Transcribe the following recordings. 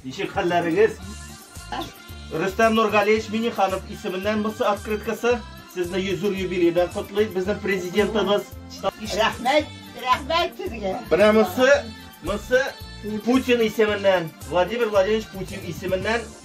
Ничек хәлләрегез? Рөстәм Нургалиевич Миниханов исеменнән бусы открыткасы. Сезне 100 юр юбилейдан котлыйк. Безнең президентыбыз. Рәхмәт, рәхмәт сезгә. Менә мысы, мысы Путин исеменнән, Владимир Владимирович Путин исеменнән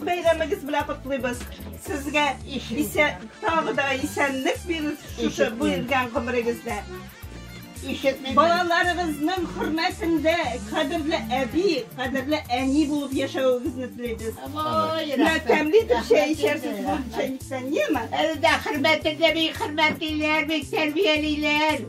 Бәйрәмегез белән котлыйбыз. Сезгә исә тагы да исәнлек бирер шушы биргән гомерегездә. Балаларыгызның хөрмәсендә кадерле әби, кадерле әни булып яшәвегезне телибез. Менә тәмле итеп чәй эчәрсез бу чәйнектән, яме? Әле дә хөрмәтле әби, хөрмәтлеләр, бик тәрбиялиләр.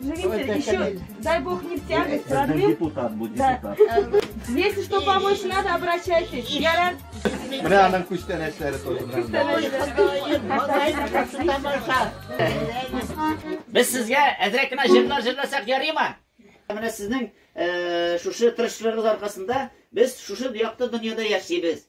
Живите, еще, дай бог, не в тягость, родным. Депутат будет, депутат. Если что помочь надо, обращайтесь. Ярар. Менә аның күчтәнәчләре тоже. Без сезгә әзрәк кенә җырлар җырласак ярыймы? Менә сезнең шушы тырышлыгыгыз аркасында без шушы якты дөньяда яшибез.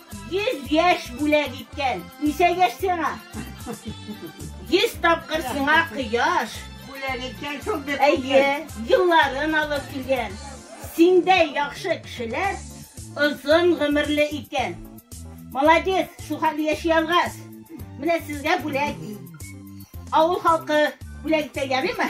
Йөз яшь бүләк иткән, ничә яшь сиңа? Йөз тапкыр сиңа кояш. Бүләк иткән шул бит. Әйе, елларын алып килгән. Синдәй яхшы кешеләр озын гомерле икән. Молодец, шул хәтле яши алгач. Менә сезгә бүләк. Авыл халкы бүләк итә ярыймы?